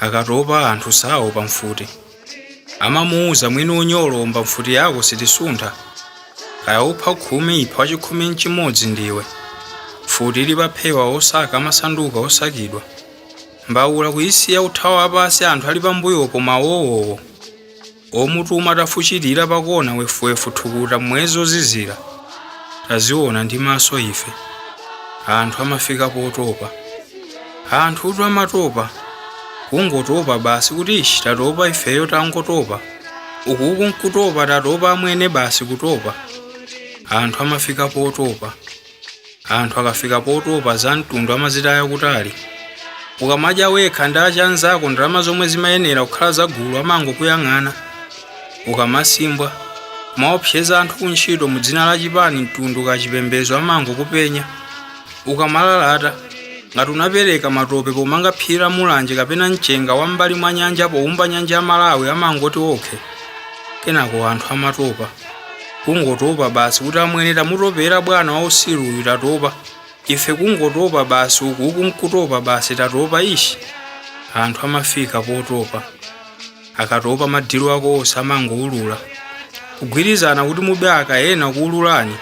Akatopa anthu saopa mfuti. Amamuuza mwini unyolo omba mfuti yako sitisuntha. Kaya upha khumi ipha wachikhumi nchimodzi ndiwe. Mfuti ili paphewa osaka amasanduka osakidwa. Mbaula kuyisiya uthawa wapansi anthu ali pambuyopo mawowowo. Owatuma atafuchirira pa kona, wefuwefu, thukuta, mmwezi wozizira. Taziwona ndi maso ife. Anthu amafika potopa. Anthutu amatopa. Kungotopa basi kuti ishi tatopa ifeyo tangotopa. Ukuku nkutopa tatopa amwene basi kutopa. Anthu amafika potopa. Anthu akafika potopa za mtundu amazitaya kutali. Ukamadya wekha ndi achanzako ndalama zomwe zimayenera kukhala za gulu amangokuyang'ana. Ukamasimbwa, kumaopseza anthu ku ntchito mu dzina la chipani, mtundu kaya chipembezo amangokupenya. Ukamalalata, ngati unapereka matope pomanga phiri la Mulanje kapena mchenga wa m'mbali mwa nyanja poumba nyanja ya Malawi amangoti okay. Kenako anthu amatopa. kungotopa basi kuti amwene tamutopera bwana wausiru uyu tatopa ife kungotopa basi uku uku nkutopa basi tatopa ishi anthu amafika potopa akatopa madhilo ako onse amangoulula kugwirizana kuti mube akanena kuululani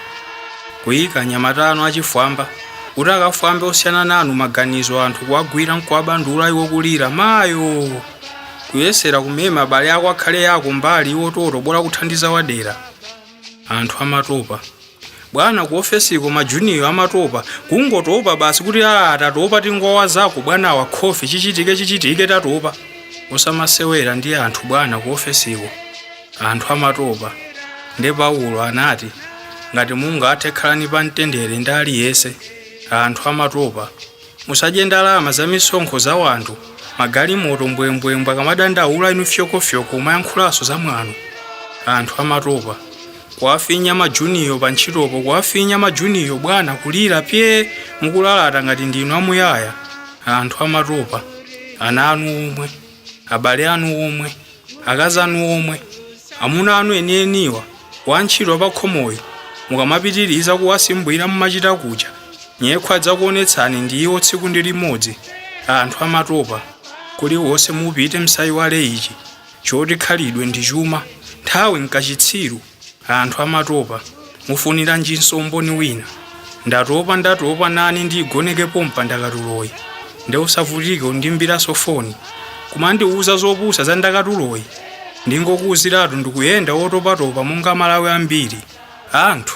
kuyika anyamata anu achifwamba kuti akafwambe osiyana nanu maganizo anthu kuwagwira nkuwabandula iwo kulira mayo kuyesera kumema abale ako akhale yako mbali iwo toto bola kuthandiza wadera anthu amatopa bwana ku ofesiko majuniyo amatopa kungotopa basi kuti a tatopa tingowazako bwanawa khofi chichitike chichitike tatopa osamasewera ndi anthu bwana ku ofesiko anthu amatopa nde paulo anati ngati mungathe khalani pa mtendere ndi aliyense anthu amatopa Musadye ndalama za misonkho za wanthu, magalimoto mbwembwembwe akamadandaula inu fyokofyoko kumayankhulanso za mwano. Anthu amatopa. Kuwafinya majuniyo pa ntchitopo kuwafinya majuniyo bwana kulira pyee mukulalata ngati ndinu amuyaya. Anthu amatopa. Ana anu omwe. abale anu omwe akazi anu omwe amuna anu enieniwa wantchito apakhomoyo mukamapitiriza kuwasimbwira mumachita muja nyekhwe adzakuonetsani ndi iwo tsiku ndi limodzi anthu amatopa kuliwonse mupite msayiwale ichi choti khalidwe ndi chuma nthawi nkachitsiru Anthu amatopa. Mufuniranjinso umboni wina? Ndatopa ndatopa nane ndiigoneke pompa ndakatuloyi. Nde usavutike kundiimbiranso foni. Kumandiuza zopusa za ndakatuloyi? Ndingokuuziratu ndikuyenda wotopatopa monga amalawi ambiri. Anthu.